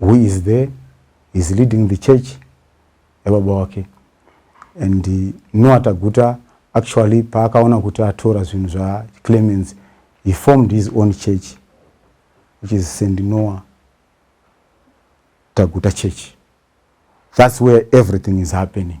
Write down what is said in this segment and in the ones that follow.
who is there is leading the church yababa wake and noa taguta actually paakaona kuti atora zvinhu zvaclemens he formed his own church which is st noa taguta church that's where everything is happening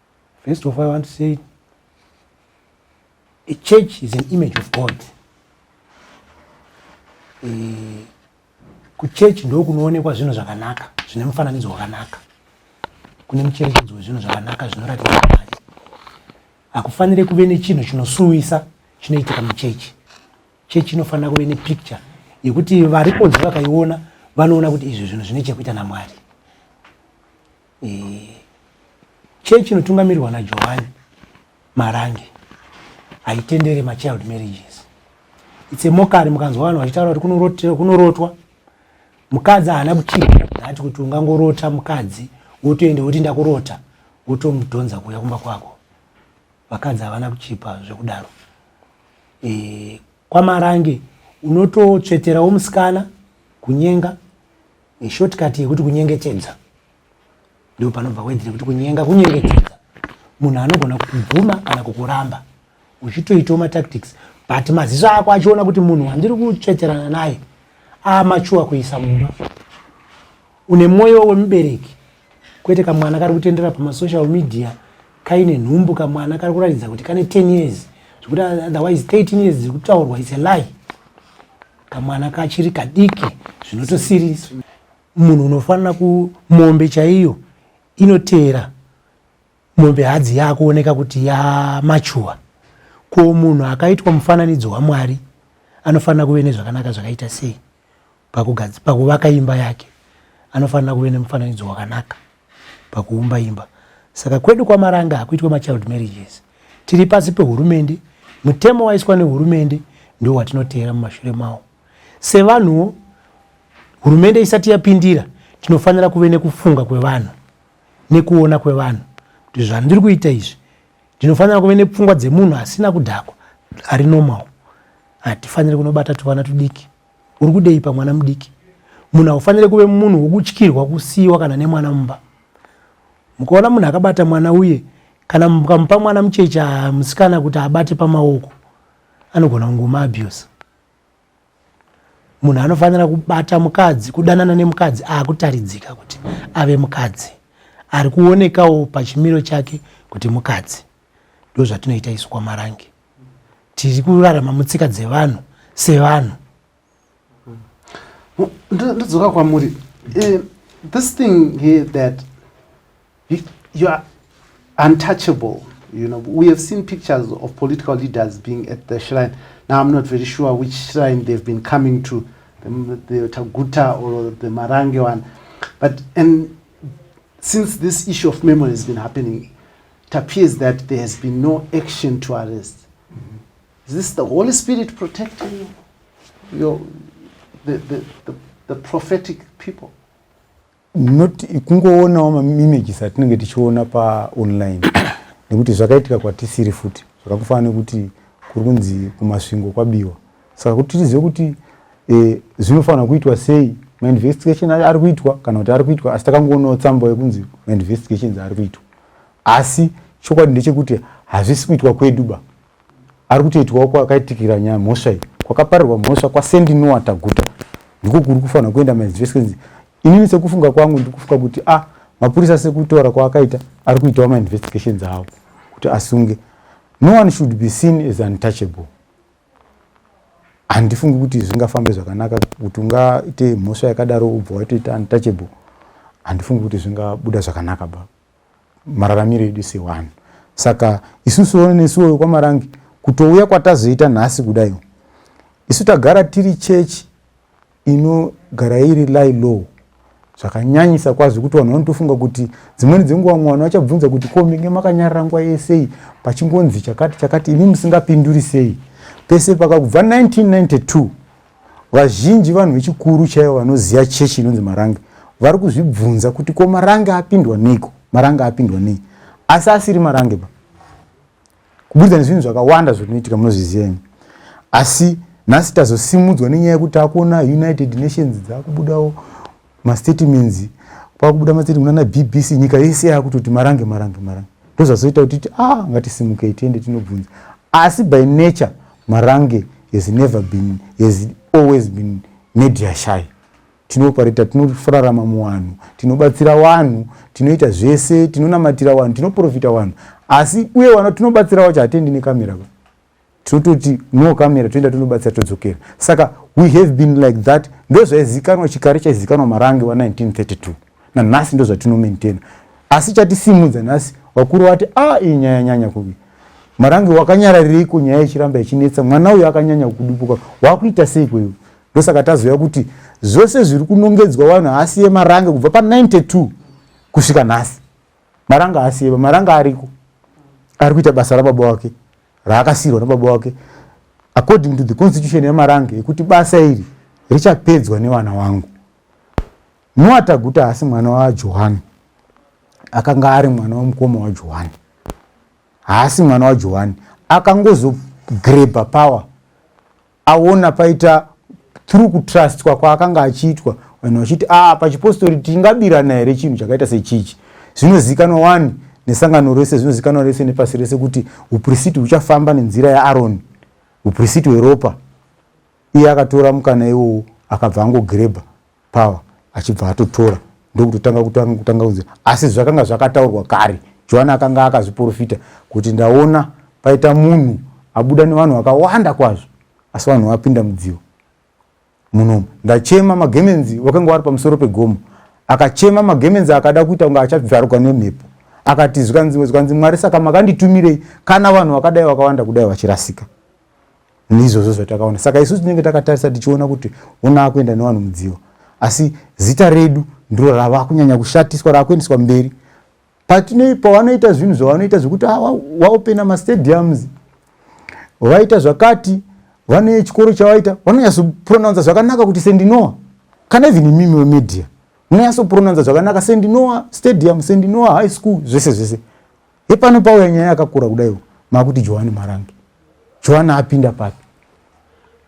First of all, I want to say a church is an image of God. Eh, kuchechi ndo kunoonekwa zvinhu zvakanaka zvine mufananidzo wakanaka kune mucherechedzo wezvinhu zvakanaka zvinoratidza mwari hakufanire kuve nechinhu chinosuwisa chinoitika muchechi chechi inofanira kuve nepicture yekuti variponzi vakaiona vanoona kuti izvi zvinhu zvine chekuita namwari Chechi inotungamirwa naJohani Marange haitendere machild marriages. It's a mockery mukanzwa vanhu vachitaura kuti kunorotwa mukadzi haana kuchira ati kuti ungangorota mukadzi wotoenda woti ndakurota wotomudhonza kuuya kumba kwako. Vakadzi havana kuchipa zvekudaro. E, kwaMarange unototsveterawo musikana kunyenga ishortcut yekuti kunyengetedza ndipo panobva wedzi nekuti kunyenga kunyengetedza munhu anogona kukubvuma kana kukuramba uchitoitawo matactics but maziso ako achiona kuti munhu wandiri kutsveterana naye amachuwa kuisa mumba une mwoyo wemubereki kwete kamwana kari kutendera pamasocial media kaine nhumbu kamwana kari kuratidza kuti kane 10 years zvekuti otherwise 13 years dziri kutaurwa its a lie kamwana kachiri kadiki zvinotosirisa munhu unofanira kumombe chaiyo inoteera mombe hadzi yakuoneka kuti yamachuwa ko munhu akaitwa mufananidzo wamwari anofanira kuve nezvakanaka zvakaita sei pakuvaka imba yake anofanira kuve nemufananidzo wakanaka pakuumba imba saka kwedu kwamaranga hakuitwe machild marriages tiri pasi pehurumende mutemo waiswa nehurumende ndiwo watinoteera mumashure mawo sevanhuwo hurumende isati yapindira tinofanira kuve nekufunga kwevanhu nekuona kwevanhu kuti zvandiri kuita izvi ndinofanira kuve nepfungwa dzemunhu asina kudhakwa ari normal hatifaniri kunobata tuvana tudiki Uri kudei pamwana mudiki? Munhu haufanire kuve munhu wokutyirwa kusiyiwa kana nemwana mumba. Mukaona munhu akabata mwana uye kana mukamupa mwana mucheche musikana kuti abate pamaoko, anogona kungoma abuse. Munhu anofanira kubata mukadzi, kudanana nemukadzi akutaridzika kuti ave mukadzi, ari kuonekawo pachimiro chake kuti mukadzi. ndozvatinoita isu kwamarange tiri kurarama mutsika dzevanhu sevanhu ndodzoka kwamuri eh, this thing here that you are untouchable you know we have seen pictures of political leaders being at the shrine now i'm not very sure which shrine they've been coming to the, the taguta or the marange one but and since this issue of memory has been happening tappears that there has been no action to arrest is this the holy spirit protecting you your the, the, the, the prophetic people not kungoonawo maimages atinenge tichiona paonline nekuti zvakaitika kwatisiri futi zvakakufanira nekuti kuri kunzi kumasvingo kwabiwa saka kuti tizive kuti eh, zvinofanira kuitwa sei mainvestigation ari kuitwa kana kuti ari kuitwa asi takangoonawo tsamba yekunzi mainvestigations ari kuitwa asi chokwadi ndechekuti hazvisi kuitwa kwedu ba ari kutoitwawo kwakaitikira nyaya mhosva iyi kwakaparirwa mhosva kwasendinowa taguta ndiko kuri kufanira kuenda mainvestments inini sekufunga kwangu ndiri kufunga kuti a ah, mapurisa sekutaura kwaakaita ari kuitawo mainvestigations avo kuti asunge no one should be seen as untouchable handifungi kuti zvingafambe zvakanaka kuti ungaite mhosva yakadaro ubva waitoita untouchable handifungi kuti zvingabuda zvakanaka ba mararamiro edu sewanhu saka isusuwo nesuwo wekwamarange kutouya kwatazoita nhasi kudaiwo isu tagara tiri chechi inogara iri lie low zvakanyanyisa kwazvo kuti vanhu vanotofunga kuti dzimweni dzenguva mwana vachabvunza kuti ko menge makanyarara nguva yesei pachingonzi chakati chakati imi musingapinduri sei pese pakakubva 1992 vazhinji vanhu vechikuru chaivo vanoziva chechi inonzi marange vari kuzvibvunza kuti ko marange apindwa neiko marange apindwa nei asi asiri marange pa kuburikidza nezvinhu zvakawanda zvinoitika munozviziyeni asi nhasi tazosimudzwa nenyaya yekuti takuona united nations dzakubudawo mastatements kwakubuda mastatement ana bbc nyika yese yakutoti marange marange marange ndozvazoita kuti ti ah ngatisimukei tiende tinobvunza asi by nature marange has never been has always been media shy Tinoopareta, tinorarama muwanhu, tinobatsira wanhu, tinoita zvese, tinonamatira wanhu, tinoprofita wanhu. Asi uye wana tinobatsira wacho hatiendi nekamera ba. Tinototi no kamera toenda tonobatsira todzokera. Saka we have been like that. Ndozvaizikanwa chikare chaizikanwa marange wa 1932. Nanhasi ndozvatino maintain. Asi chatisimudza nhasi vakuru vati ah iyi nyaya nyanya kuvi. Marange wakanyaraririko nyaya ichiramba ichinetsa mwana uyu akanyanya kudupuka. Wakuita sei kweyo? ndosaka tazoya kuti zvose zviri kunongedzwa vanhu haasi yemarange kubva pa 92 kusvika nhasi maranga haasi yema maranga ariko ari kuita basa rababa wake raakasirwa nababa wake according to the constitution yemarange yekuti basa iri richapedzwa nevana wangu noataguta haasi mwana wajohani akanga ari mwana wemukoma wajohani haasi mwana wajohani akangozogrebha power aona paita through kutrustwa kwaakanga achiitwa vanhu vachiti a ah, pachipostori tingabirana here chinhu chakaita sechichi zvinozivikanwa wani nesangano rese zvinozivikanwa rese nepasi rese kuti uprisiti huchafamba nenzira yaaroni uprisiti hweropa iye akatora mukana iwowo akabva angogirebha power achibva atotora ndokutotanga kutanga kutanga kunzi asi zvakanga zvakataurwa kare johani akanga akazviprofita kuti ndaona paita munhu abuda nevanhu vakawanda kwazvo asi vanhu vapinda mudzivo munomu ndachema magemenzi wakanga wari pamusoro pegomo akachema magemenzi akada kuita kunge achabvaruka nemhepo akati zvikanzi zvikanzi mwari saka makanditumire kana vanhu vakadai vakawanda kudai vachirasika neizvozvo zvatakaona saka isu tinenge takatarisa tichiona kuti ona akuenda nevanhu mudziva asi zita redu ndiro rava kunyanya kushatiswa raakuendeswa mberi patine pavanoita zvinhu zvavanoita zvekuti ah, waopena mastadiums vaita zvakati vane chikoro chavaita vanonyatsopronounza zvakanaka kuti sendinoa kana even imimi wemedia munonyatsopronounza zvakanaka sendinoa stadium sendinoa high school zvese zvese Hepano pauya nyaya yakakura kudaiwo makuti Johani Marange. Johani apinda papi?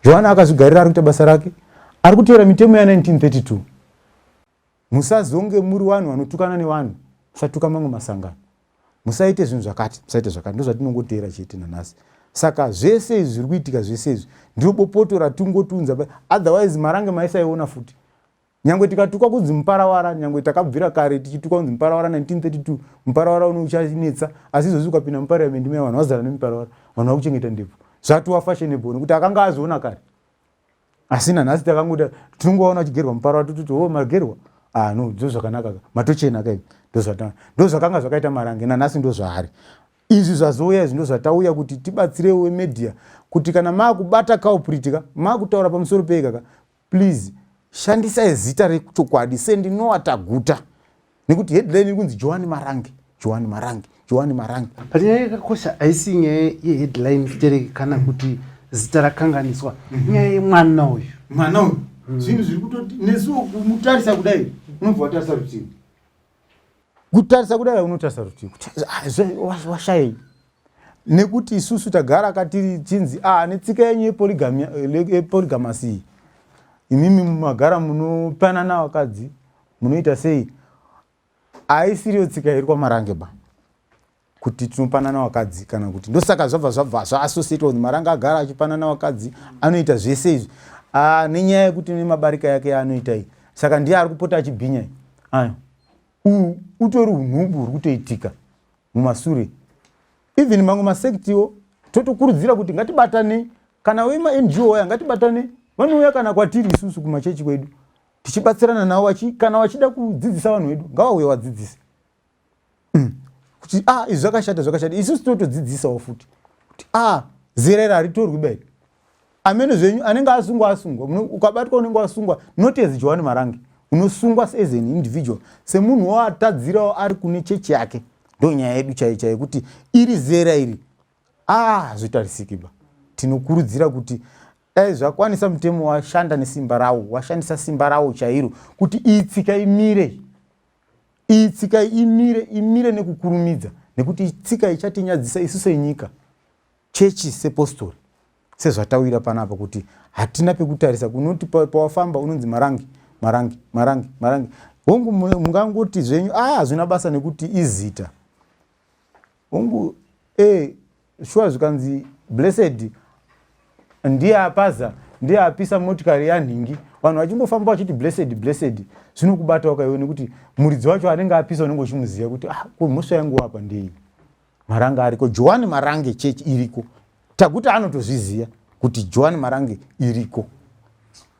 Johani akazvigarira ari kuita basa rake, ari kuteera mitemo ya 1932. Musazonge muri vanhu vanotukana nevanhu, musatuka mamwe masangano. Musaite zvinhu zvakati, musaite zvakati, ndozvatinongoteera chete nanhasi. Saka zvese izvi zviri kuitika zvese izvi ndiro bopoto ratungotunza otherwise Marange maisaiona futi. Nyangwe tikatukwa kunzi muparawara, nyangwe takabvira kare tichitukwa kunzi muparawara 1932, muparawara uno uchanetsa, asi izvozvi ukapinda muparliament maya vanhu vazara nemiparawara, vanhu vakuchengeta ndebvu. Zvatova fashionable nekuti akanga azoona kare. Asi nanhasi takangoda tinongovaona vachigerwa muparawara tototi ho oh, magerwa. Ah no, ndo zvakanaka ka. Matochena ka izvi. Ndo zvata. Ndo zvakanga zvakaita marange nanhasi ndo zvaari. Izvi zvazouya izvi ndo zvatauya kuti tibatsirewo media kuti kana makubata culprit ka, makutaura pamusoro pei kaka, Please shandisai zita rechokwadi sendinowa taguta nekuti headline iri kunzi johani marange johani marange johani marange but nyaya yakakosha haisi nyaya yeheadline tere kana kuti zita rakanganiswa mhm. nyaya yemwana uyu mwana uyu mm. zvinhu zviri kutoti nesuwo kumutarisa kudai unobva watarisa rutivi kutarisa kudai unotarisa rutivi ah, washayei nekuti isusu tagara katiri chinzi ah, netsika yenyu yeporigamasi iyi imimi magara munopanana vakadzi munoita sei haisiriyo tsika iri kwamarange ba kuti tinopanana vakadzi kana kuti ndosaka zvabva zvabva zvaassociated with maranga agara achipanana vakadzi anoita zvese izvi ah, nenyaya yekuti nemabarika yake yaanoita iyi saka ndiye ari kupota achibhinya aya uhu utori unhubu huri kutoitika mumasure even mamwe masektiwo totokurudzira kuti ngatibatanei kana wemangwo waya ngatibatanei vanouya kana kwatiri isusu kumachechi kwedu tichibatsirana navo kana vachida kudzidzisa vanhu vedu ngavauye vadzidzise mm. kuti a ah, izvi zvakashata zvakashata isu tinotodzidzisawo futi kuti a ah, zera iri haritorwi bai amene zvenyu anenge asungwa asungwa ukabatwa unenge wasungwa not as johani marange unosungwa as an individual semunhu woatadzirawo ari kune chechi yake ndo nyaya yedu chaiyo chaiyo kuti iri zera iri ah zvotarisiki ba tinokurudzira kuti dai zvakwanisa mutemo washanda nesimba rawo washandisa simba rawo chairo kuti itsika imire iyi tsika imire imire nekukurumidza nekuti itsika ichatinyadzisa isu senyika chechi sepostori sezvatawira panapa kuti hatina pekutarisa kunoti pawafamba unonzi marangi marangi marangi marangi hongu mungangoti zvenyu a ah, hazvina basa nekuti izita Hongu eh shuwa zvikanzi blessed ndiye apaza ndiye apisa motikari yanhingi vanhu vachingofamba vachiti blessed blessed zvinokubatawo kaiwe nekuti muridzi wacho anenge apisa unenge uchimuziva kuti ah ko mhosva yangu wapa ndei maranga ariko johani marange church iriko takuti anotozviziva kuti johani marange iriko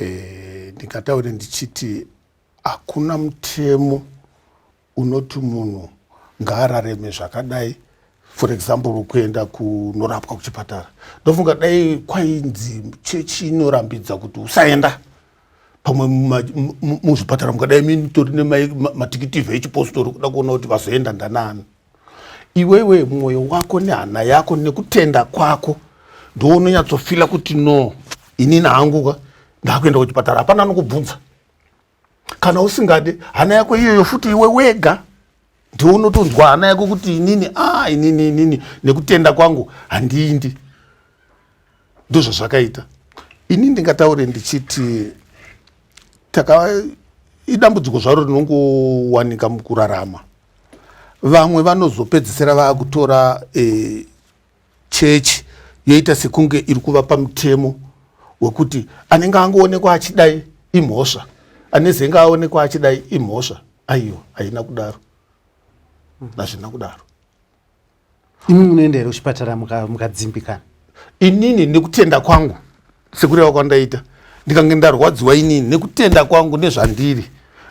eh, ndingataure ndichiti hakuna mutemo unoti munhu ngaarareme zvakadai for example kuenda kunorapwa kuchipatara ndofunga dai kwainzi chechi inorambidza kuti usaenda pamwe muzvipatara mukadai minitori nematikitivi echipostori kuda kuona kuti vazoenda ndanaani iwewe mwoyo wako nehana yako nekutenda kwako ndounonyatsofila kuti no inini hangu ka ndakuenda kuchipatara hapana anokubvunza kana usingade hana yako iyoyo futi iwe wega ndiunotonzwa hana yako kuti inini a ah, inini inini nekutenda kwangu handiindi ndozvazvakaita ini ndingataure ndichiti taka idambudziko zvaro rinongowanika mukurarama vamwe vanozopedzisira vakutora e, chechi yoita sekunge iri kuvapa mutemo wekuti anenge angoonekwa achidai imhosva anezenge aonekwa achidai imhosva aiwa haina kudaro hazvina kudaro imi munoenda here kuchipatara mukadzimbikana inini nekutenda kwangu sekureva kwandaita ndikange ndarwadziwa inini nekutenda kwangu nezvandiri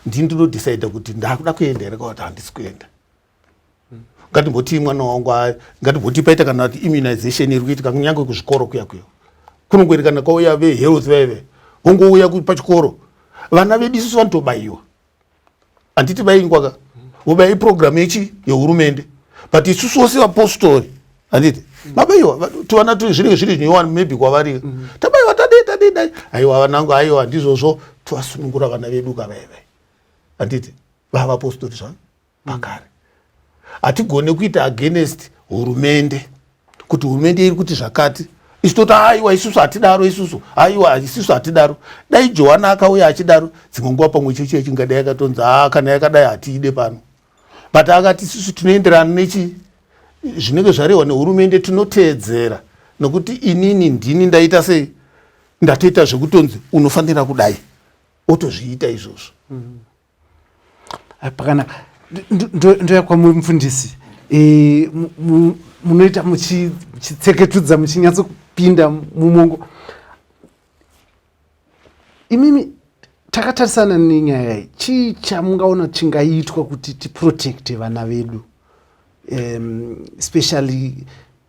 ndini ndinodecide kuti ndakuda kuenda here kawati handisi kuenda ngatimbotii mwana wangu ngatimbotii paita kana kuti immunization iri kuitika kunyange kuzvikoro kuya kuya kunongoerekana kwauya vehealth vaive vongouya pachikoro vana vedu isusu vanotobaiwa handiti vaingwa ka ngoba iprogramu yechi yehurumende but isusu wose vapostori handiti mabaiwa tivana tiri zvinenge zviri zvinyowani maybe kwavari mm. tabaiwa tadei tadei dai aiwa vanangu aiwa ndizvozvo tivasunungura vana vedu kavaive handiti vavapostori zvavo pakare hatigone kuita against hurumende kuti hurumende iri kuti zvakati isu toti aiwa isusu hatidaro isusu aiwa isusu hatidaro dai johana akauya achidaro dzimwe nguva pamwe chechi yachingadai yakatonzi haa kana yakadai hatiide pano but akati isusu tinoenderana nechi zvinenge zvarehwa nehurumende tinoteedzera nokuti inini ndini ndaita sei ndatoita zvekutonzi unofanira kudai otozviita izvozvo mm -hmm. pakanaka ndoya kwamuri mufundisi eh, munoita muchitseketudza muchinyatsopinda mumongo imimi takatarisana nenyaya iyi chii chamungaona chingaitwa kuti tiprotecte vana vedu um, especially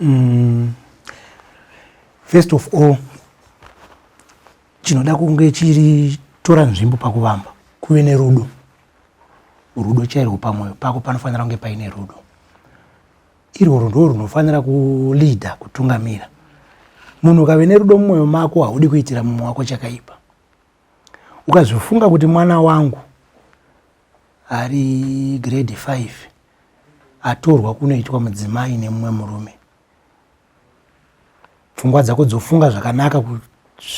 Mm. First of all chinoda kunge chiri tora nzvimbo pakuvamba kuve nerudo rudo chairwo pamwoyo pako panofanira kunge paine rudo irworwo ndo runofanira kuleada kutungamira munhu ukave nerudo mumwoyo mako haudi kuitira mumwe wako chakaipa ukazofunga kuti mwana wangu ari grade five atorwa kunoitwa mudzimai nemumwe murume pfungwa dzako dzofunga zvakanaka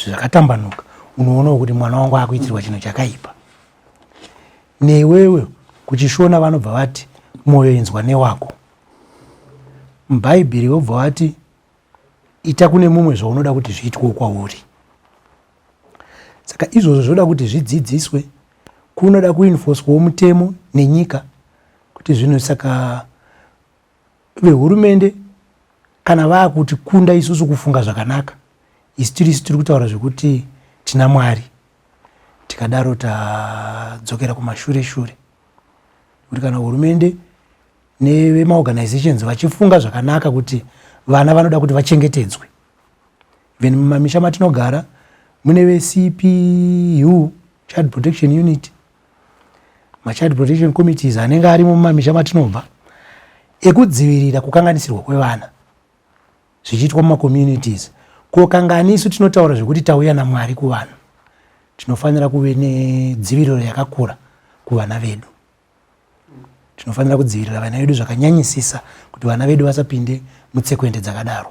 zvakatambanuka unoonawo kuti mwana wangu akuitirwa chinhu chakaipa newewe kuchishona vanobva vati mwoyo inzwa newako mubhaibheri vobva vati ita kune mumwe zvaunoda kuti zviitwewo kwauri saka izvozvo zvoda kuti zvidzidziswe kunoda kuinfoswawo mutemo nenyika kuti zvinhu saka vehurumende kana vaakuti kunda isusu kufunga zvakanaka isu tiri isu tiri kutaura zvekuti tina mwari tikadaro tadzokera kumashure shure kuti kana hurumende nevemaorganizations vachifunga zvakanaka kuti vana vanoda kuti vachengetedzwe Then mumamisha matinogara mune veCPU Child Protection Unit, maChild Protection Committees anenge arimo mumamisha matinobva ekudzivirira kukanganisirwa kwevana zvichiitwa mumacommunities. Ko kanga anisu tinotaura zvekuti tauya naMwari kuvanhu, tinofanira kuve nedziviriro yakakura kuvana vedu. Tinofanira kudzivirira vana vedu zvakanyanyisisa kuti vana vedu vasapinde mutsekwende dzakadaro.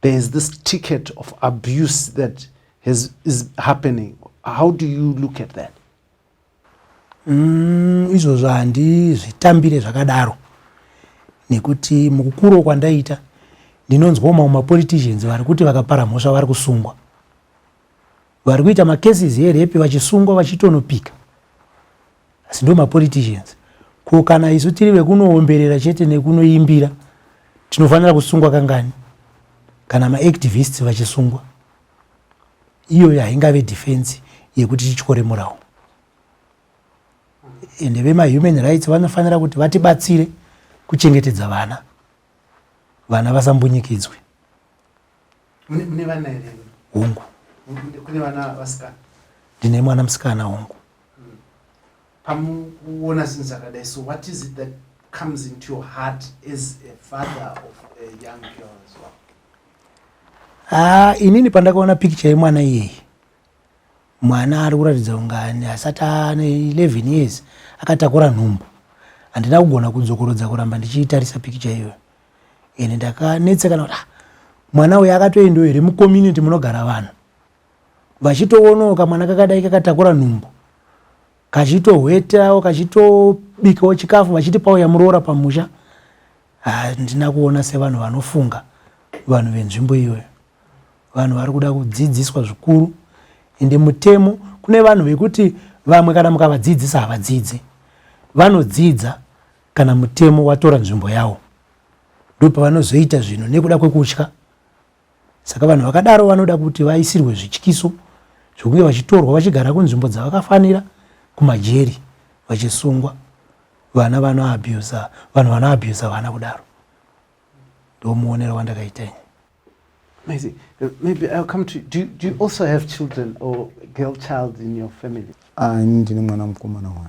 there is this ticket of abuse that has, is happening how do you look at that mm, izvozvo handizvitambire zvakadaro nekuti mukukuro kwandaita ndinonzwawo mamwe mapoliticians vari kuti vakapara mhosva vari kusungwa vari kuita macases erepi vachisungwa vachitonopika asi ndo mapoliticians ko kana isu tiri vekunoomberera chete nekunoimbira tinofanira kusungwa kangani kana maactivists vachisungwa iyoyo haingave defense yekuti tityore murawo ende vemahuman rights vanofanira kuti vatibatsire kuchengetedza vana vana vasambunyikidzwe Mune vana here? Hongu. Kune vana vasikana? Ndine mwana musikana hongu. Hmm. Pamukuona zvinhu zvakadai so what is it that comes into your heart as a father of a young girl as well? Ah, inini pandakaona picture yemwana iyeyi mwana ari kuratidza ungani asati ane 11 years akatakura nhumbu handina kugona kudzokorodza kuramba ndichiitarisa picture iyoyo and ndakanetsekana kuti ah, mwana uyu akatoendawo here mucommunity munogara vanhu vachitoonawo kamwana kakadai kakatakura nhumbu kachitohwetawo kachitobikawo chikafu vachiti pauya muroora pamusha handina kuona sevanhu vanofunga vanhu venzvimbo iyoyo vanhu vari kuda kudzidziswa zvikuru ende mutemo kune vanhu vekuti vamwe kana mukavadzidzisa havadzidzi vanodzidza kana mutemo watora nzvimbo yawo ndopavanozoita zvinhu nekuda kwekutya saka vanhu vakadaro vanoda kuti vaisirwe zvityiso zvekunge vachitorwa vachigara kunzvimbo dzavakafanira kumajeri vachisungwa vana vanoabusa vanhu vanoabusa vana kudaro ndo muonero wandakaita ini Maybe, maybe I'll come to do, do you also have children or girl child in your family? Ah, ndine mwana mukomana one.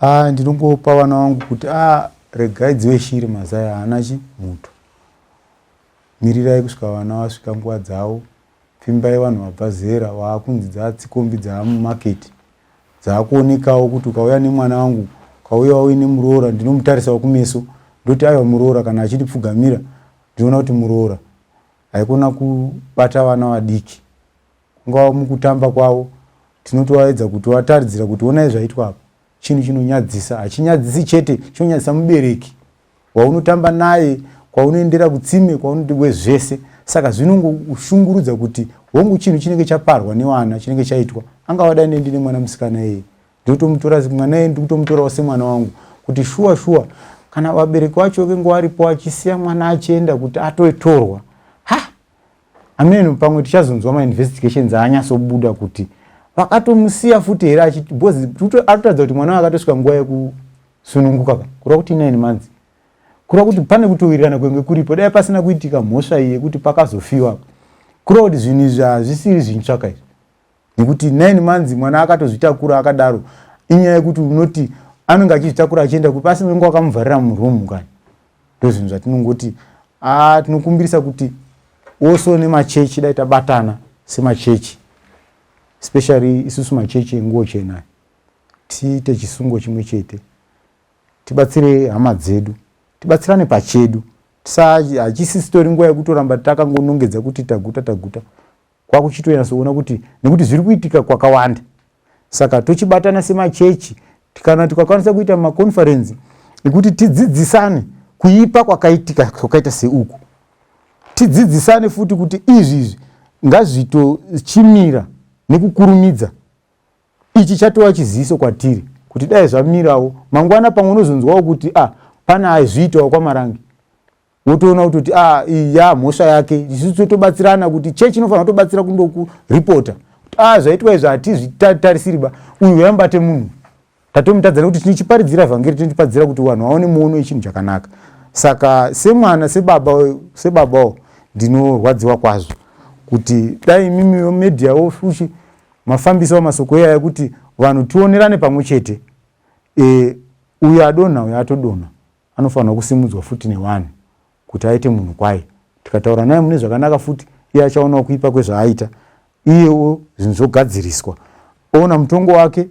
Ah, ndinongopa vana vangu kuti ah, regai dzive shiri mazai haana chi muto. Mirirai kusvika vana vasvika nguva dzavo. Pfimbai vanhu vabva zera waakunzi dzaatsikombi dzaamumaketi. Dzaakuonekawo kuti ukauya nemwana wangu ukauya wauye nemuroora ndinomutarisawo kumeso ndoti aiwa muroora kana achindipfugamira ndinoona kuti muroora haikona kubata vana vadiki Ungava mukutamba kwavo tinotovaedza kuti vataridzira kuti onai zvaitwa apa chinhu chinonyadzisa hachinyadzisi chete chinonyadzisa mubereki waunotamba naye kwaunoendera kutsime kwaunoti we zvese saka zvinongoshungurudza kuti hongu chinhu chinenge chaparwa nevana chinenge chaitwa angava dai ne ndine mwana musikana iyeye ndinotomutora mwana iyeye ndikutomutorawo semwana wangu kuti shuwa shuwa kana vabereki vacho venge varipo achisiya mwana achienda kuti atotorwa Amen pamwe tichazonzwa ma investigations anyaso buda kuti vakatomusiya futi here achiti because atotadza kuti mwana akatosvika nguva yekusununguka ka kurwa kuti 9 months kurwa kuti pane kutowirirana kwenge kuripo dai pasina kuitika mhosva iyi yekuti pakazofiwa kurwa kuti zvinhu izvi hazvisiri zvintsvaka izvi nekuti nine months mwana akatozvitakura akadaro inyaya yekuti unoti anenge achizvitakura achienda kupi asi unenge wakamuvharira muroom kani ndozvinhu zvatinongoti ah, tinokumbirisa kuti also nemachechi dai tabatana semachechi especially isusu machechi enguo chena tiite chisungo chimwe chete tibatsire hama dzedu tibatsirane pachedu hachisi sitori nguva yekutoramba takangonongedza kuti taguta taguta kwakuchitonyatsoona kuti nekuti zviri kuitika kwakawanda saka tochibatana semachechi kana tikakwanisa kuita maconferensi ekuti tidzidzisane kuipa kwakaitika kwakaita seuku tidzidzisane futi kuti izvi izvi ngazvitochimira nekukurumidza ichi chatova chiziviso kwatiri kuti dai zvamirawo mangwana pamwe unozonzwawo kuti a ah, pana aizviitawo kwamarange wotoona kutoti a ah, ya mhosva yake isu totobatsirana kuti chechi inofanira kutobatsira kundokuripota kuti a ah, zvaitwa izvi hatizvitarisiri ba uyu yambate munhu tatomutadzana kuti tinichiparidzira evhangeri tinichiparidzira kuti vanhu vaone muono yechinhu chakanaka saka semwana sebaba sebabawo ndinorwadziwa kwazvo kuti dai imimi vemedia wo fushi mafambisa wamasoko iyaya kuti vanhu tionerane pamwe chete e, uyo adonha uyo atodonha Anofanirwa kusimudzwa futi newanhu kuti aite munhu kwaye. Tikataura naye mune zvakanaka futi, iye achaonawo kuipa kwezvaaita, iyewo zvinhu zvogadziriswa. Oona mutongo wake,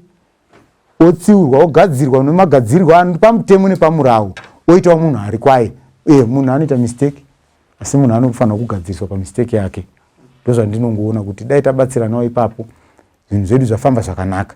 otsiurwa, ogadzirwa nemagadzirirwo ano pamutemo nepamurawo, oitawo munhu ari kwaye. Ee, munhu anoita mistake, asi munhu anofanirwa kugadziriswa pamistake yake. Ndozvandinongoona kuti dai tabatsiranawo ipapo, zvinhu zvedu zvafamba zvakanaka.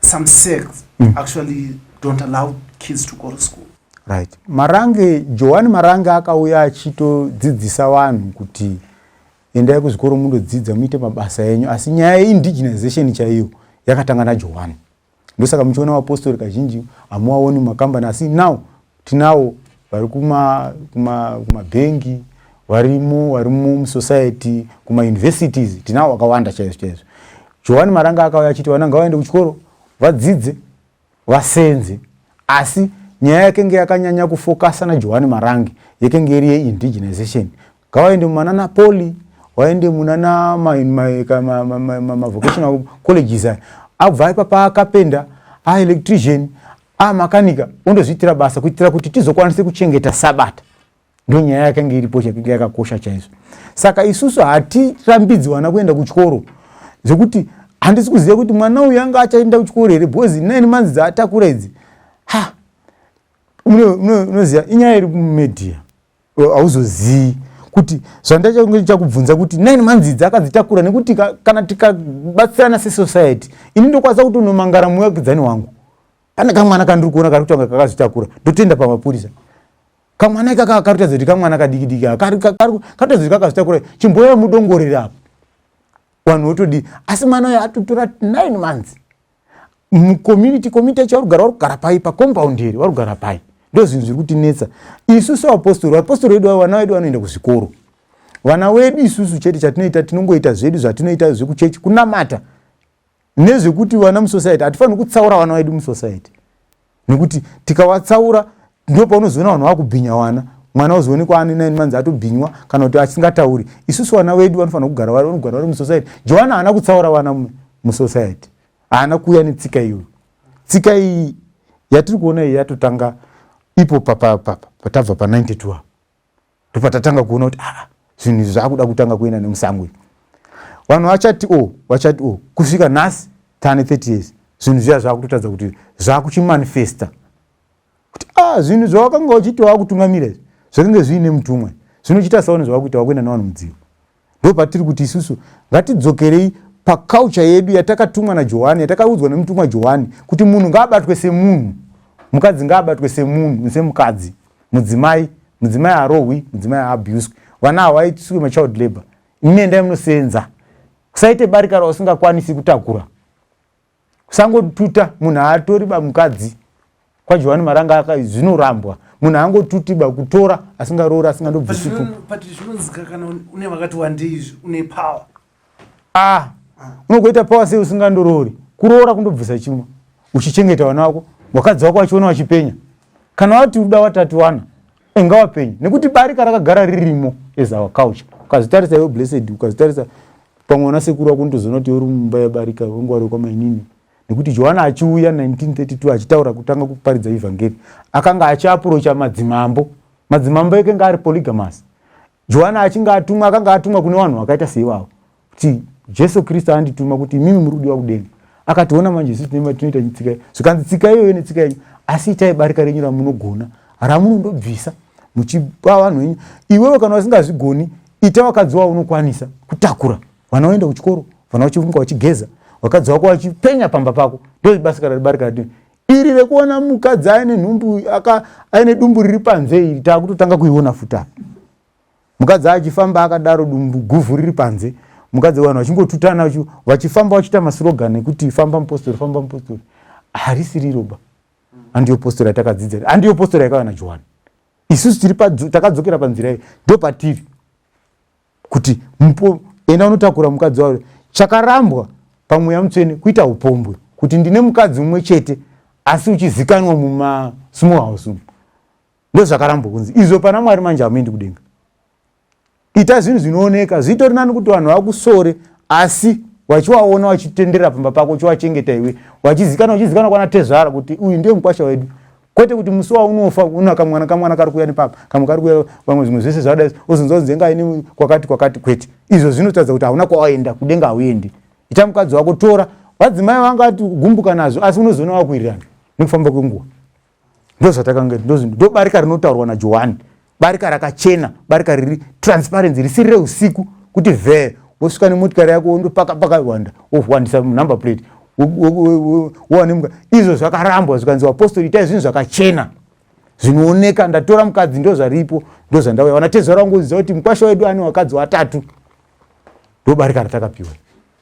some sects mm. actually don't allow kids to go to school right marange johani marange akauya achitodzidzisa vanhu kuti endai kuzvikoro mundodzidza muite mabasa enyu asi nyaya yeindigenization chaiyo yakatanga najohani ndosaka muchiona vapostori kazhinji hamuwaoni mumakambani asi now Tinawo vari kuma kuma kuma bengi varimo vari mu society kuma universities tinawo akawanda chaizvo chaizvo. Johani Maranga akauya achiti vana ngavaende kuchikoro vadzidze vasenze asi nyaya yakenge yakanyanya kufokasa naJohani Marange yekenge iri yeindigenization Ngawaende mumanana poli, waende munana mavocational colleges aya. Abva ipapa akapenda, a electrician, a makanika, ondozviitira basa kuitira kuti tizokwanise kuchengeta sabata. Ndo nyaya yakange iripo chakinge yakakosha chaizvo. Saka isusu hatirambidzi vana kuenda kuchikoro zvekuti handisi kuziva kuti mwana uyu anga achaenda kuchikoro here because nine months dzaatakura idzi ha unoziva inyaya iri kumedia hauzozii kuti zvandachange ndichakubvunza kuti nine months idzi akadzitakura nekuti kana tikabatsirana sesociety ini ndokwanisa kuti unomangara muvakidzani wangu pane kamwana kandiri kuona kari kutanga kakazvitakura ndotenda pamapurisa kamwana ikaka karutaza kuti kamwana kadikidiki karutaza kuti kakazvitakura chimboya mudongorere apo vanhu votodii asi mwana uyo atotora nine months mucommunity community yacho varugara vari kugara pai pacompaundi here vari kugara pai ndozvinhu zviri kutinetsa isu sevapostori vapostori vedu vavo vana vedu vanoenda kuzvikoro vana wedu isusu chete chatinoita tinongoita zvedu zvatinoita zvekuchechi kunamata nezvekuti vana musociety hatifaniri kutsaura vana vedu musociety nekuti tikawatsaura ndipo paunozoona vanhu vakubhinya wana mwana ozoonekwa ani nine months atobhinywa kana kuti asingatauri isusu vana vedu vanofanira kugara vari vanogara vari musociety johana haana kutsaura vana musociety haana kuuya netsika iyoyo tsika iyi yatiri kuona iyi yatotanga ipo papapapa patabva pa92 apo ndopatatanga kuona kuti aa zvinhu izvi zvakuda kutanga kuenda nemusango izvi vanhu vachati o oh, vachati o oh, kusvika nhasi tane 30 years zvinhu zviya zvakutotadza kuti zvakuchimanifesta kuti a ah, zvinhu zvawakanga uchiti wakutungamira izvi zvakange zviine mutumwa zvinochiita saone zvawakuita wakuenda nevanhu mudziva Ndopatiri kuti isusu ngatidzokerei paculture yedu yatakatumwa naJohani, yatakaudzwa nemutumwa Johani kuti munhu ngaabatwe semunhu, mukadzi ngaabatwe semunhu, semukadzi, mudzimai, mudzimai arohwi, mudzimai aabuswe, vana hawaitiswe machild labor, imi endai munoseenza, kusaite barika rausingakwanisi kutakura. kusangotuta munhu haatori ba mukadzi kwajohani maranga aka zvinorambwa munhu angotuti ba kutora asingaroori asingandobvisiku ah, unogoita power sei usingandoroori kuroora kundobvisa chimwe uchichengeta vana wako wakadzi wako wachiona wachipenya kana wati uda watatu wana inga wapenyu nekuti barika rakagara ririmo as our culture ukazitarisa iwe blessed ukazitarisa pamwe ona sekuru wako unotozoona kuti uri mumba yebarika wengwari wekwamainini nekuti johana achiuya 1932 achitaura kutanga kuparidza evhangeri akanga achiapurocha madzimambo madzimambo ekenga ari polygamas Johani achinge atumwa akanga atumwa kune vanhu vakaita seivavo kuti Jesu Kristu andituma kuti imimi muri kudiwa kudenga. Akationa manje isu tine matinoita tsika zvikanzi tsika iyoyo netsika yenyu asi itai barika renyu ramunogona ramunondobvisa muchipa vanhu venyu iwewe kana wasingazvigoni ita vakadzi wavo unokwanisa kutakura vana voenda kuchikoro vana vachiunga vachigeza vakadzi wako vachipenya pamba pako ndozvibasikara ribarika ratino iri rekuona mukadzi aine nhumbu aine dumbu riri panze iri taakutotanga kuiona futi apa mukadzi achifamba akadaro dumbu guvhu riri panze mukadzi vanhu vachingotutana vachifamba vachiita masirogan ekuti famba mupostori famba mupostori harisi riroba handiyo postori yatakadzidza handiyo postori yakawana johani isusu tiri takadzokera panzira iyi ndo patiri kuti mupo enda unotakura mukadzi wavo chakarambwa pamweya mutsvene kuita upombwe kuti ndine mukadzi umwe chete asi uchizikanwa mumasmall house umu ndozvakarambwa kunzi izvo pana mwari manje hamuendi kudenga ita zvinhu zvinooneka zvitori nani kuti vanhu vakusore asi wachiwaona wachitenderera pamba pako chiwachengeta iwe wachizikana wachizikana kwana tezvara kuti uyu ndiye mukwasha wedu kwete kuti musi waunofa una kamwana kamwana kari kuuya nepapa kamwe kari kuuya vamwe zvimwe zvese zvadai ozonzwa kunzi enga ini kwakati kwakati kwete izvo zvinotaridza kuti hauna kwawaenda kudenga hauendi ita mukadzi wako tora vadzimai vanga ti gumbuka nazvo asi unozoona wakuirirana nekufamba kwenguva ndozvatakanga ndobarika rinotaurwa najohani barika rakachena barika riri transparency risiri reusiku kuti vhee wosvika nemotikari yako wondopaka pakawanda wohwandisa number plate wowanemuka izvo zvakarambwa zvikanzi vapostori itai zvinhu zvakachena zvinooneka ndatora mukadzi ndo zvaripo ndo zvandauya vanatezvara vangoziva kuti mukwasha wedu ane vakadzi vatatu ndobarika ratakapiwa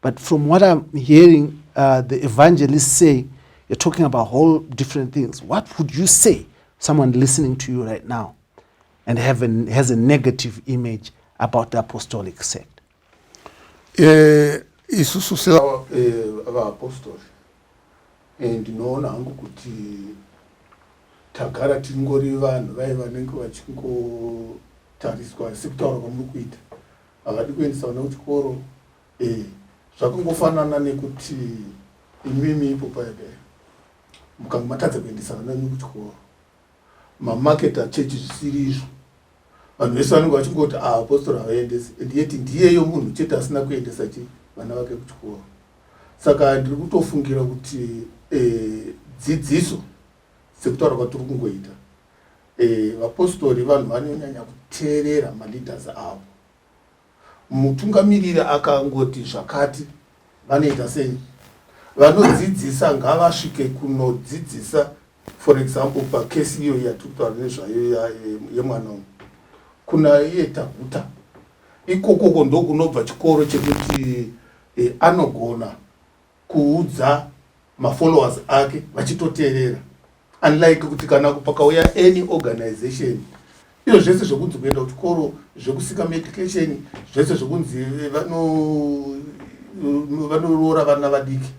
But from what I'm hearing uh, the evangelists say, you're talking about whole different things. What would you say someone listening to you right now and have a, has a negative image about the apostolic sect? Eh, isusu sevaapostoli eh, eh, ndinoona hangu kuti tagara tingori vanhu vaye vanenge vachingotariswa sekutaura kwamuri kuita havadi kuendesa vana kuchikoro eh, zvakangofanana nekuti imimi ipo paede mukanga matadza kuendesa vana venyu kuchikoro mamaketa chechi zvisiri izvo vanhu vese vanenge vachingoti ah, apostora havaendesi and yet ndiyeyo munhu chete asina kuendesa chi vana vake kuchikoro saka ndiri kutofungira kuti eh, dzidziso sekutaura kwatiri kungoita Vapostori vanhu vanonyanya kuteerera maleaders avo. Mutungamiriri akangoti zvakati vanoita sei? Vanodzidzisa ngavasvike kunodzidzisa for example pakesi iyo yatiri kutaura nezvayo yemwana uyu kuna iye taguta ikokoko ndokunobva chikoro chekuti e, anogona kuudza mafollowers ake vachitoteerera unlike kuti kana pakauya any organization iyo zvese zvekunzi kuenda kuchikoro zvekusika medication zvese zvekunzi eh, vanoroora eh, vana vadiki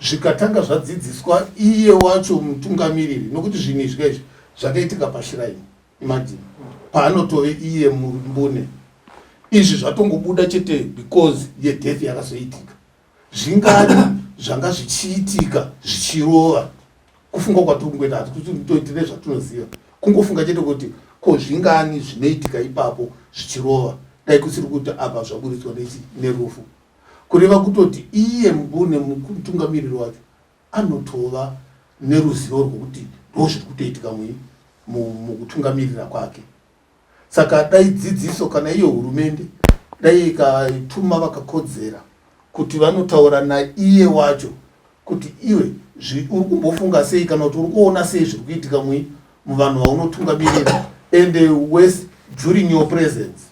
zvikatanga zvadzidziswa iye wacho mutungamiriri nokuti zvinhu izvi kaizvi zvakaitika pashiraini imajini paanotove iye mumbune izvi zvatongobuda chete because yedeath yakazoitika Zvingani zvanga zvichiitika zvichirova kufunga kwatiri kungoita hati kuti toitire zvatinoziva kungofunga chete kuti ko zvingani zvinoitika ipapo zvichirova dai kusiri kuti apa zvaburitswa nechi nerufu kureva kutoti iye mbune mutungamiriri wacho anotova neruzivo rwokuti ndozviri kutoitika mui mukutungamirira kwake saka dai dzidziso kana iyo hurumende dai ikatuma vakakodzera kuti vanotaura naiye wacho kuti iwe uri kumbofunga sei kana kuti uri kuona sei zviri kuitika mui muvanhu vaunotungamirira and uh, wes during your presence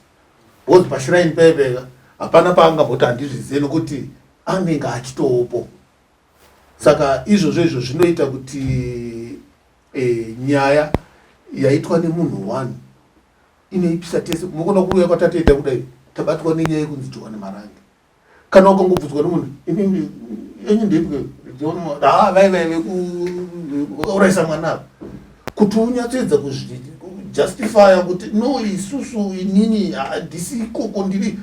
bcause pashiraini paiveka hapana paangamboti handizvizive nokuti anenge achitoopo saka izvozvo izvo zvinoita kuti Eh, nyaya yaitwa nemunhu one inoipisa tese unogona kuuya kwatatenda kudai tabatwa nenyaya yekunzi johani marange kana ukangobvunzwa nemunhu inini enyu ndipwe haa vai vai vekuuraisa mwana ava kuti unyatsoedza kuzvijustifya kuti no isusu inini handisi ikoko ndiri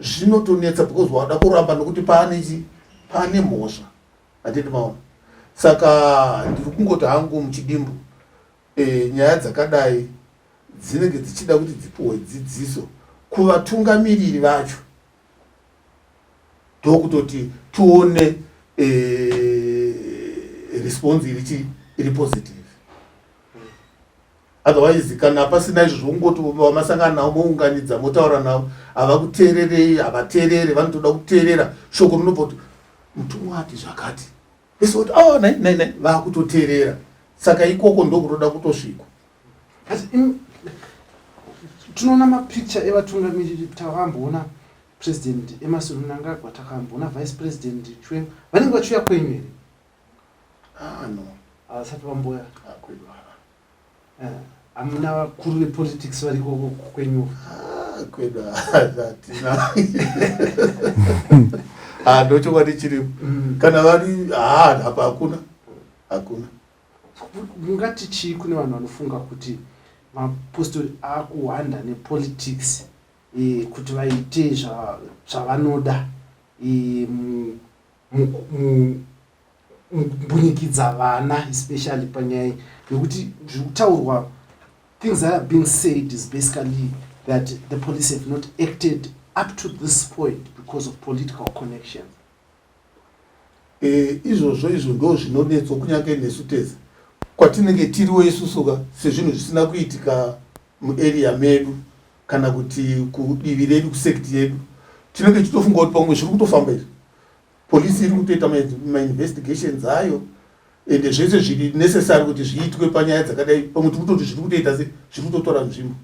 zvinotonetsa because wada kuramba nokuti paane chi paane mhosva handiti maona saka ndiri kungoti hangu muchidimbu e, nyaya dzakadai dzinenge dzichida kuti dzipiwe dzidziso kuvatungamiriri vacho ndokutoti tione e, response iri chii iri positive otherwise kana hapasina izvo zvokungoti vamasangana navo mounganidza motaura navo havakuteererei havateerere vanotoda kuteerera shoko rinobva kuti mutumwa ati zvakati vese voti awa ah, nai nai nai vakutoteerera saka ikoko ndokutoda kutosvikwa asi tinoona mapicture evatungamiriri takamboona president emasuru mnangagwa takamboona vice president chwe vanenge vachiuya kwenyu here Ah no. Havasati ah, vamboya. Akwedu ah, haa. Ah. Eh, hamuna vakuru vepolitics variko kwenyu. Ah, kwedu hatina. Ah, ndochokwadi chiri. Mm. Kana vari haa hapa hakuna. Hakuna. Mungati chii kune vanhu vanofunga kuti mapostori akuhwanda nepolitics eh, kuti vaite zvavanoda eh, mbunyikidza vana especially panyaya nekuti zviri kutaurwa things that are being said is basically that the police have not acted up to this point because of political connections eh, izvozvo izvo ndo zvinonetso kunyange nesu tese kwatinenge tiriwo isusuka sezvinhu zvisina kuitika muarea medu kana kuti kudivi redu kusect yedu tinenge tichitofunga kuti pamwe zviri kutofamba izvi polisi iri kutoita mainvestigations ayo ende zvese zviri necessary kuti zviitwe panyaya dzakadai pamwe tiri kutoti zviri kutoita se zviri kutotora nzvimbo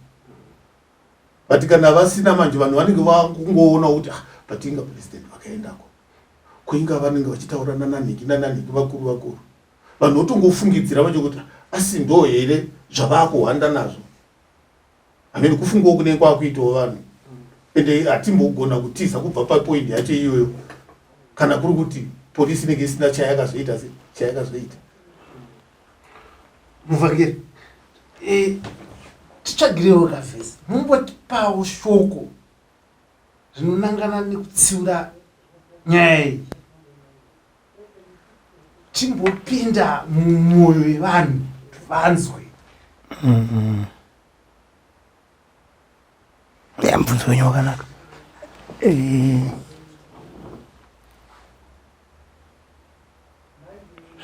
but kana vasina manje vanhu vanenge vakungoona kuti ah, but inga president vakaendako kuinga vanenge vachitaura nananhiki nananhiki vakuru vakuru vanhu votongofungidzira vacho kuti ah, asi ndo here zvavaakuhwanda nazvo hameno kufungawo kunenge kwakuitawo vanhu ende hatimbogona kutiza kubva papoindi yacho iyoyo kana kuri kuti polisi inenge isina chayakazoita chayakazoita muvakiri e, titsvagirewo kavhesi mumbotipawo shoko rinonangana nekutsiura nyaya iyi chimbopinda mumwoyo yevanhu vanzwe mm-hmm. ya mubvunzo wenyu wakanaka eh.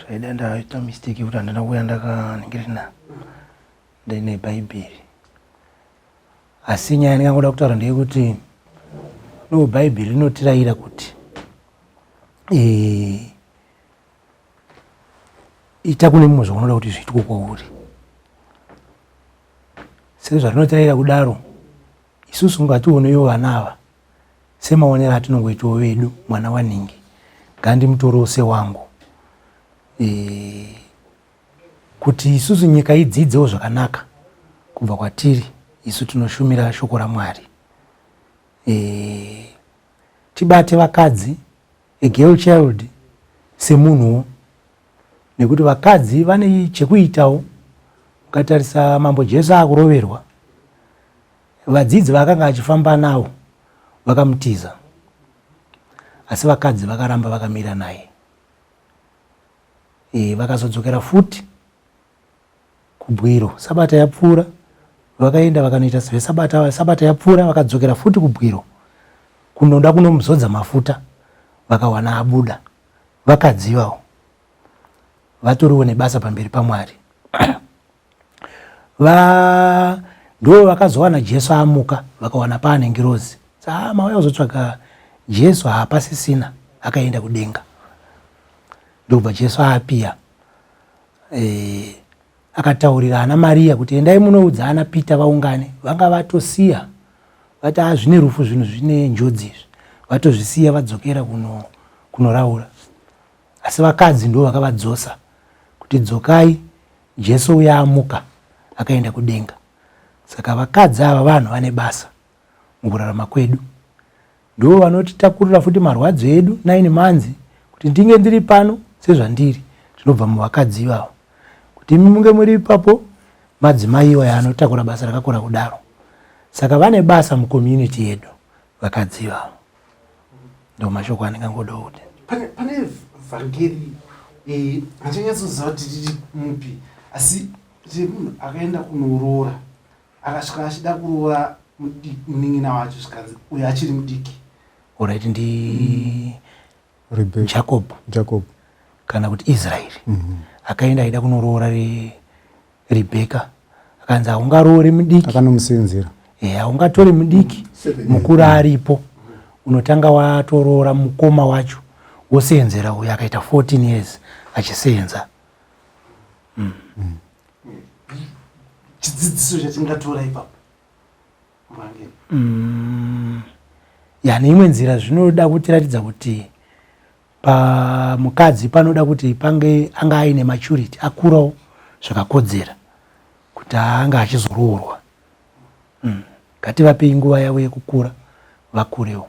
zvaida ndaita mistake yekuti handina kuuya ndakanengerina ndaine bhaibheri asi nyaya ndingangoda kutaura ndeyekuti no bhaibheri rinotirayira kuti eh, ita kune mumwe zvaunoda kuti zviitwe kwauri sezvarinotirayira kudaro isusu ngationewo vana ava semaonero atinongoitawo vedu mwana wanhingi ngandimutorewo sewangu eh, Kuti isusu nyika idzidzewo zvakanaka kubva kwatiri isu tinoshumira shoko raMwari. E, tibate vakadzi, a girl child, semunhuwo nekuti vakadzi vane chekuitawo. Ukatarisa mambo Jesu akuroverwa, vadzidzi vaakanga achifamba navo vakamutiza, asi vakadzi vakaramba vakamira naye. e, vakazodzokera futi kubwiro sabata yapfuura vakaenda vakanoita zvesabata sabata yapfuura vakadzokera futi kubwiro kunoda kunomuzodza mafuta vakawana abuda vakadzi ivavo vatoriwo nebasa pamberi pamwari Va ndo vakazowana Jesu amuka vakawana paane ngirozi. Saa mauya kuzotsvaga Jesu haapasisina akaenda kudenga. Ndokubva Jesu apiya eh, akataurira ana Maria kuti endai munoudza ana Peter vaungane. Vanga vatosiya vati a ah, zvine rufu zvinhu zvine njodzi izvi vatozvisiya vadzokera kuno kunoraura asi vakadzi ndo vakavadzosa kuti dzokai Jesu uya amuka akaenda kudenga. Saka vakadzi ava vanhu vane basa mukurarama kwedu. Ndivo vanotitakurira futi marwadzo edu nine manzi kuti ndinge ndiri pano sezvandiri zvinobva muvakadzi ivavo. Kuti imi munge muri ipapo madzimai iwaya anotakura basa rakakura kudaro. Saka vane basa mucommunity yedu vakadzi ivavo. ndo mashoko andingangoda kuti pane pane vhangeri eh, handinyatsoziva kuti tiri mupi asi tiri munhu akaenda kunoroora akasvika achida kuroora munin'ina wacho zvikanzi uyo achiri mudiki orit ndi Rebecca. jacob jacob kana kuti israeri mm -hmm. akaenda aida kunoroora re rebeka akanzi haungaroore mudiki akanomusenzera e, eh, haungatore mudiki mukuru aripo unotanga watoroora mukoma wacho woseenzera uyo akaita 14 years achiseenza mm. mm. chidzidziso chatingatora ipapo Mm, ya neimwe nzira zvinoda kutiratidza kuti pamukadzi panoda kuti pange anga aine maturity akurawo zvakakodzera kuti anga achizoroorwa mm. ngativapei nguva yavo yekukura vakurewo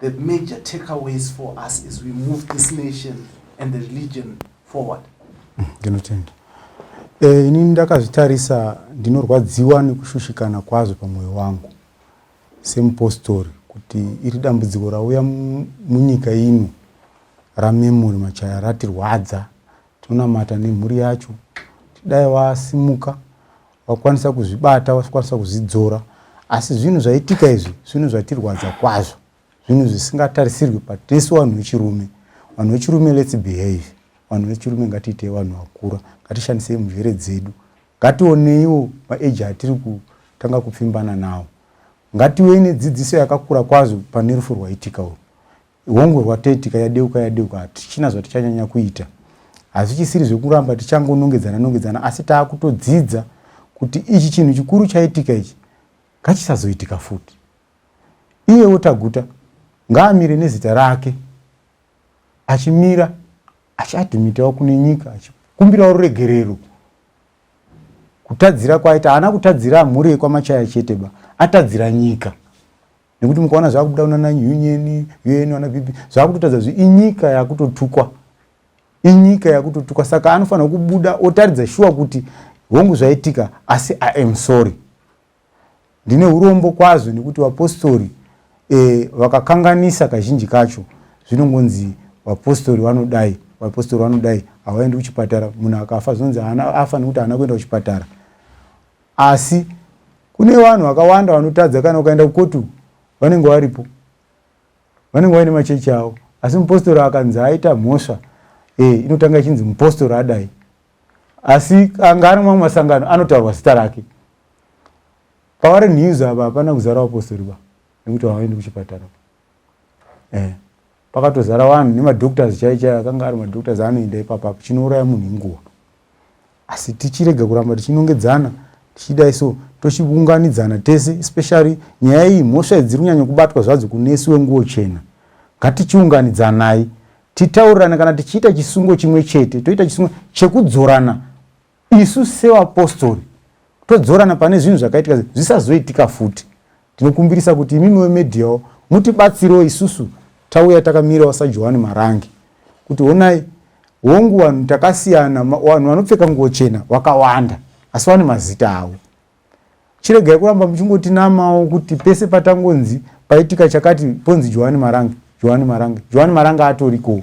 The major takeaways for us is we move this nation and the religion forward. Mm, ndinotenda. Eh, ini ndakazvitarisa ndinorwadziwa nekushushikana kwazvo pamwoyo wangu semupostori kuti iri dambudziko rauya munyika ino ramemori machaya ratirwadza tonamata nemhuri yacho tidai vasimuka wakwanisa kuzvibata wakwanisa kuzvidzora asi zvinhu zvaitika izvi zvinhu zvatirwadza kwazvo zvinhu zvisingatarisirwi patisu vanhu vechirume vanhu vechirume lets behave vanhu vechirume ngatiitei vanhu vakura ngatishandisei mujere dzedu ngationeiwo maeji atiri kutanga kupfimbana nawo ngativei nedzidziso yakakura kwazvo pane rufu rwaitika uru Hongu rwataitika yadeuka yadeuka hatichina zvatichanyanya kuita hazvichisiri zvekuramba tichangonongedzana nongedzana asi taakutodzidza kuti ichi chinhu chikuru chaitika ichi ngachisazoitika futi iyewo taguta ngaamire nezita rake achimira achiadhimitawo kune nyika achikumbirawo ruregerero kutadzira kwaita haana kutadzira mhuri yekwamachaya chete ba atadzira nyika nekuti mukaona zvakubuda kunana union un ana bp zvakutotadza zvi inyika yakutotukwa inyika yakutotukwa saka anofanira kubuda otaridza shuwa kuti hongu zvaitika asi i am sorry ndine urombo kwazvo nekuti vapostori e, vakakanganisa kazhinji kacho zvinongonzi vapostori vanodai vapostori vanodai havaendi kuchipatara munhu akafa zvinonzi afa nekuti haana kuenda kuchipatara Asi kune vanhu vakawanda vanotadza kana ukaenda kukotu vanenge varipo vanenge vaine machechi avo asi mupostori akanzi aita mhosva e, inotanga ichinzi mupostori adai asi anga ari mamwe masangano anotaurwa zita rake pavari news ava hapana kuzara vapostori va nekuti havaendi kuchipatara e. Pakatozara vanhu nemadoctors chai chai akanga ari madoctors anoenda ipapa chinouraya munhu inguva asi tichirega kuramba tichinongedzana tichidai so tochiunganidzana tese especially nyaya iyi mhosva idziri kunyanya kubatwa zvadzo kunesi wenguo chena ngatichiunganidzanai titaurirane kana tichiita chisungo chimwe chete toita chisungo chekudzorana Isu sevapostori todzorana pane zvinhu zvakaitika zvisazoitika futi. Tinokumbirisa kuti imimi vemediyawo mutibatsirewo isusu tauya takamirawo sajohani marange kuti honai hongu vanhu takasiyana vanhu vanopfeka nguvo chena vakawanda asi vane mazita avo chiregai kuramba muchingotinamawo kuti pese patangonzi paitika chakati ponzi johani marange johani marange johani marange atorikowo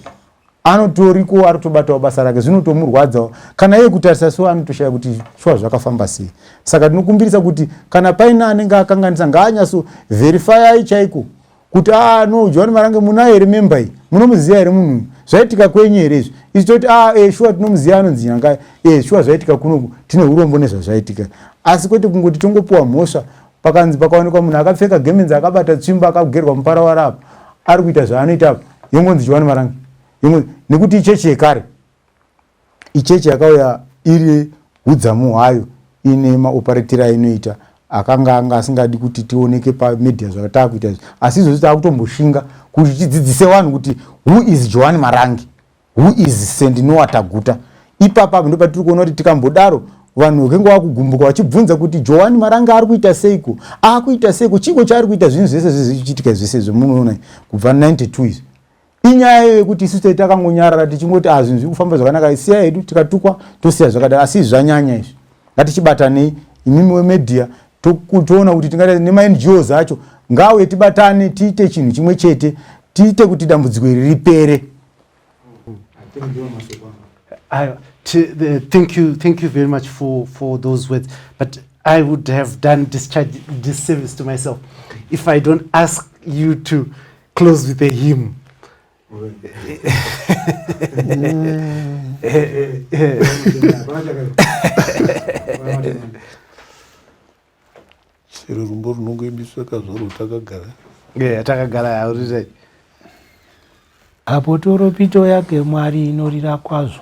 anotorikowo arotobatawo basa rake zvinotomurwadzawo kana iye kutarisa so anotoshaya kuti shuwa zvakafamba sei saka tinokumbirisa kuti kana paine anenge akanganisa ngaanyaso verifyai chaiko kuti a ah, no johani marange munaye here memba iyi munomuziva here munhu uyu zvaitika kwenyu here izvi isu toti a ah, e eh, shuwa tinomuziva anonzi nyangai e eh, shuwa zvaitika kunoku tine urombo nezvazvaitika asi kwete kungoti tongopiwa mhosva pakanzi pakaonekwa munhu akapfeka gemenzi akabata tsvimbo akagerwa mupara warapo ari kuita zvaanoita apo yongonzi johani marange nekuti ichechi yekare ichechi yakauya iri hudzamu hwayo ine maoparetira ainoita akanga anga asingadi kuti tioneke pamedia zvakataa kuita izvi asi izvozvi taakutomboshinga kuti tidzidzise vanhu kuti who is johani marangi who is st noa taguta ipapa apo ndopatiri kuona kuti tikambodaro vanhu vakenge vakugumbuka vachibvunza kuti johani marangi ari kuita seiko akuita seiko chiiko chaari kuita zvinhu zvese zvezvichiitika zvese zvemunoona kubva 92 izvi inyaya iyo yekuti isu tei takangonyarara tichingoti a ah, zvinhu zviri kufamba zvakanaka siya hedu tikatukwa tosiya zvakadaro asi zvanyanya izvi ngatichibatanei imimi wemedia toona kuti tingata nemangos acho ngauye tibatane tiite chinhu chimwe chete tiite kuti dambudziko iri ripere thank you thank you very much for for those words but i would have done discharge this service to myself if i don't ask you to close with a him chero rumbo runongoimbiswa kazvaro takagara yeah, takagara auritai apo toropito yake mwari inorira kwazvo